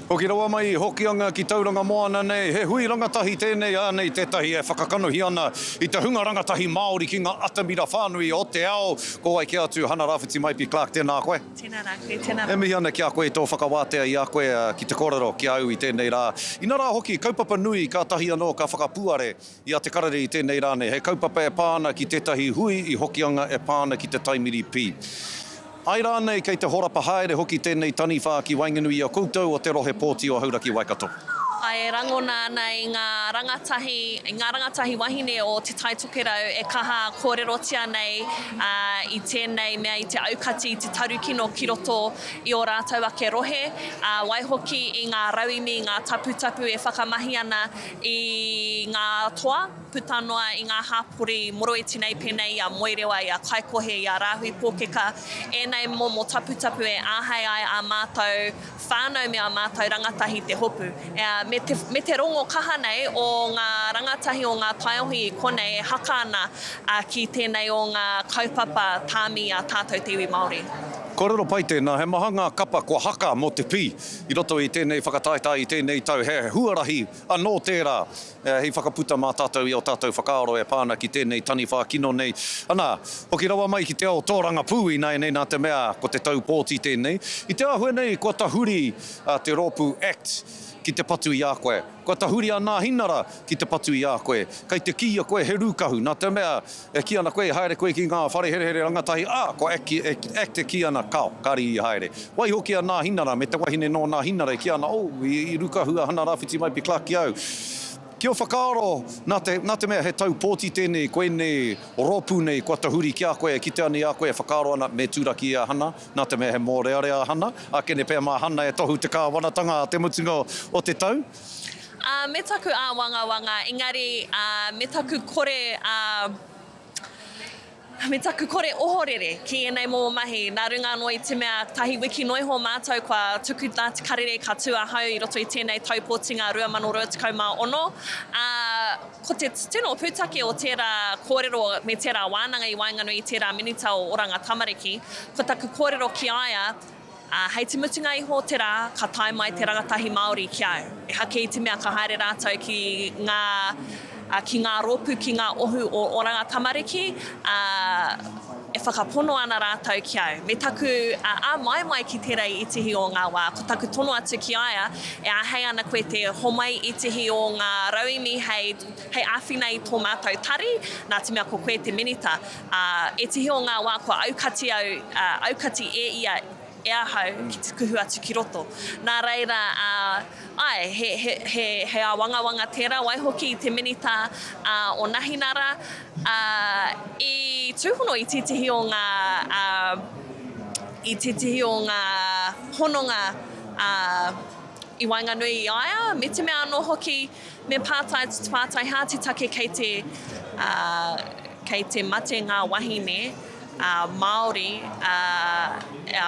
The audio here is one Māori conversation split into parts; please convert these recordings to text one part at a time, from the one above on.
Hoki rawa mai i Hokianga ki Tauranga Moana nei, he hui rangatahi tēnei ānei tētahi e whakakanohi ana i te hunga rangatahi Māori ki ngā atamira whānui o te ao. Ko wai kē atu, Hana Rawhiti Maipi Clarke, tēnā koe. Tēnā rā koe, tēnā rā. E mihi ana ki a koe i tō whakawātea i a koe ki te kōrero ki a au i tēnei rā. Inarā hoki, kaupapa nui kātahi anō ka whakapuare. I a Te Karere i tēnei rā nei, he kaupapa e pā ana ki tētahi hui i Hokianga e pā ana ki te Taimiri Pī. Ai rānei kei te horapa haere hoki tēnei taniwha ki waenganui i a koutou o te Rohe Pōti o Hauraki Waikato. E rangona ana i ngā rangatahi, i ngā rangatahi wahine o Te Tai Tokerau e kaha kōrerotia nei i tēnei mea i te aukati i te tarukino ki roto i ō rātou ake rohe, ā, waihoki i ngā rauemi, ngā taputapu e whakamahi ana I ngā toa, puta noa i ngā hāpori moroiti nei pēnei i a Moerewa, i a Kaikohe, i a Rāhui Pōkeka, ēnei momo taputapu e āhei ai ā mātou whānau me ā mātou rangatahi te hopu. Me te, me te rongo kaha nei o ngā rangatahi o ngā taiohi i konei e haka ana ki tēnei o ngā kaupapa tāmi i a tātou te iwi Māori. Kōrero pai tēnā, he maha ngā kapa kua haka mō te pī. I roto i tēnei whakataetae i tēnei tau, he huarahi anō tērā hei whakaputa mā tātou i ō tātou whakaaro e pā ana ki tēnei taniwha kino nei. Anā, hoki rawa mai ki te ao tōrangapū ināianei nā te mea ko te tau pōti tēnei. I te āhua nei kua tahuri te rōpū act ki te patu i a koe. Kua tahuri a Nāhinara ki te patu i a koe. Kei te kīia koe he rūkahu nā te mea E kī ana koe i haere koe ki ngā whare herehere rangatahi, ā, ko act e kī ana, Kao, kāre i haere. Waiho ki a Nāhinara me te wahine nō Nāhinara i kī ana, Oh, i Rukahu a Hana Rāwhiti mai pi Clarke ki au. Ki ō whakaaro, nā te mea he tau pōti tēnei ko ēnei rōpū nei kua tahuri ki a koe e kitea nei a koe e whakaaro ana me turaki i a Hana, nā te mea he mōrearea a Hana, ā, kene pea mā Hana e tohu te kāwanatanga ā te mutunga o te tau. Ā, me taku āwangawanga, engari, ā, me taku kore, ā, me taku kore ohorere ki ēnei momo mahi, nā runga anō i te mea tahi wiki noa iho mātou kua tuku Ngāti Karere ka tū ahau i roto i tēnei Taupōtinga 2026, ā, ko te tino pūtake o tērā kōrero me tērā wānanga i waenganui i tērā Minita o Oranga Tamariki, ko taku kōrero ki a ia, Ā, hei te mutunga iho o te rā, ka tae mai te rangatahi Māori ki a au. E haki i te mea ka haere rātou ki ngā, ā, ki ngā rōpū, ki ngā ohu o Oranga Tamariki, ā, e whakapono ana rātou ki au. Me taku, ā, āmai mai ki tērā i ētehi o ngā wā, ko taku tono atu ki a ia, e āhei ana koe te homai i ētehi o ngā rauemi hei, hei āwhina i tō mātou tari, nā te mea ko koe te Minita. Ā, e tihi o ngā wā kua aukati au, ā, aukati e ia e ahau ki te kuhu atu ki roto. Nā reira, ā, āe, he, he, he, he āwangawanga tērā, waihoki i te minita, ā, o Nahinara, ā, i tūhono i tētehi o ngā, ā, i tētehi o ngā hononga, ā, i waenganui i a ia, me te mea anō hoki, Me pātaiha te take kei te kei te mate ngā wahine Māori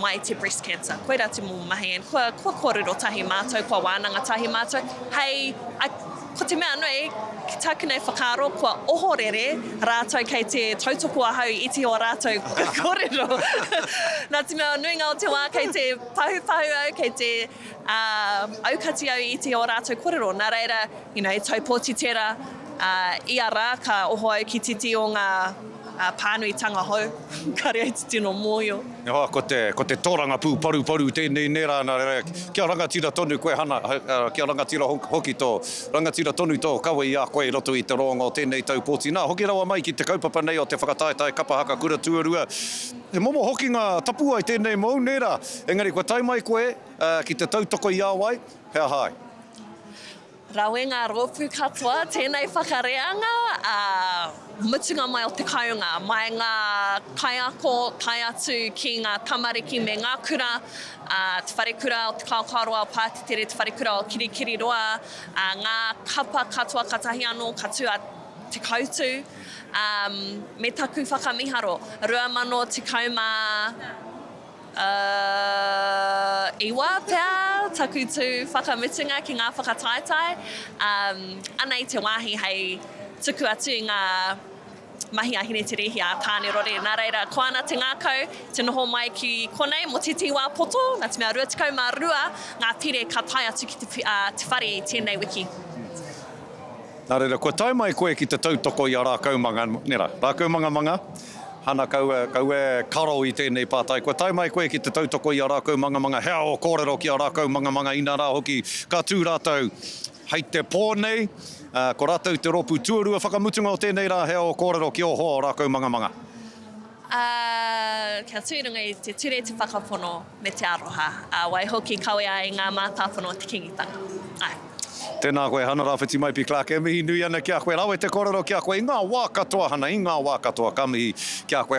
mai te breast cancer. Koira te momo mahi and kua kua kōrero tahi mātou, kua wānanga tahi mātou hei ko te mea nui ki tāku nei whakaaro kua ohorere rātou kei te tautoko ahau i te o rātou kōrero. Nā te mea o nuinga o te wā kei te pahupahu au, kei te. Ā, aukati au i te ō rātou kōrero, nā reira, you know, e taupōti tērā, ā, ia rā ka oho au ki titi o ngā, ā, pānuitanga hou, kāore au te tino mōhio. Nō hoa, ko te, ko te tōrangapū paruparu tēnei, nē rā, nā reira, kia rangatira tonu koe, Hana, ā, kia rangatira hoki tō, rangatira tonu tō kawe i a koe i roto i te roanga o tēnei taupōti. Nā, hoki rawa mai ki te kaupapa nei o te whakataetae kapa haka kura tuarua, he momo hokinga tapuwae tēnei mōu, nē rā, engari kua tae mai koe, Ki te tautoko i a wai, he aha ai? Rawe ngā rōpū katoa tēnei whakareanga ā mutunga mai o te kounga, mai ngā kaiako tae atu ki ngā tamariki me ngā kura, ā, Te Wharekura o Te Kaokaoroa o Pātetere, Te Wharekura o Kirikiriroa, ā, ngā kapa katoa katahi anō ka tū a Te Koutu, ā, me taku whakamiharo, 2016. Ā, i wā pea taku tū whakamutunga ki ngā whakataetae, ā, anei te wāhi hei tuku atu i ngā mahi a Hineterehia, a Tānerore. Nā reira, ko ana te ngākau te noho mai ki konei mō tētehi wā poto, nā te mea 22 ngā pire ka tae atu ki te whare i tēnei wiki. Nā reira, kua tae mai koe ki te tautoko i a Rākaumanga, nē rā, Rākaumangamanga? Hana, Kaua, kaua e karo i tēnei pātai. Kua tae mai koe ki te tautoko i a rākau mangamanga, he ao kōrero ki a rākau mangamanga, inā rā hoki ka tū rātau hei te pō nei. Ko rātau te rōpū tuarua whakamutunga o tēnei rā, he ao kōrero ki ō hoa o rākau mangamanga. Ā, kia tū runga i te Ture te Whakapono. Me te aroha. Ā, waihoki, kawea e ngā mātāpono o te Kīngitanga. Āe. Tēnā koe Hana Rawhiti mai pi Clarke e mihi nui ana ki a koe rawe te korero ki a koe i ngā wā katoa Hana i ngā wā katoa ka mihi ki a koe.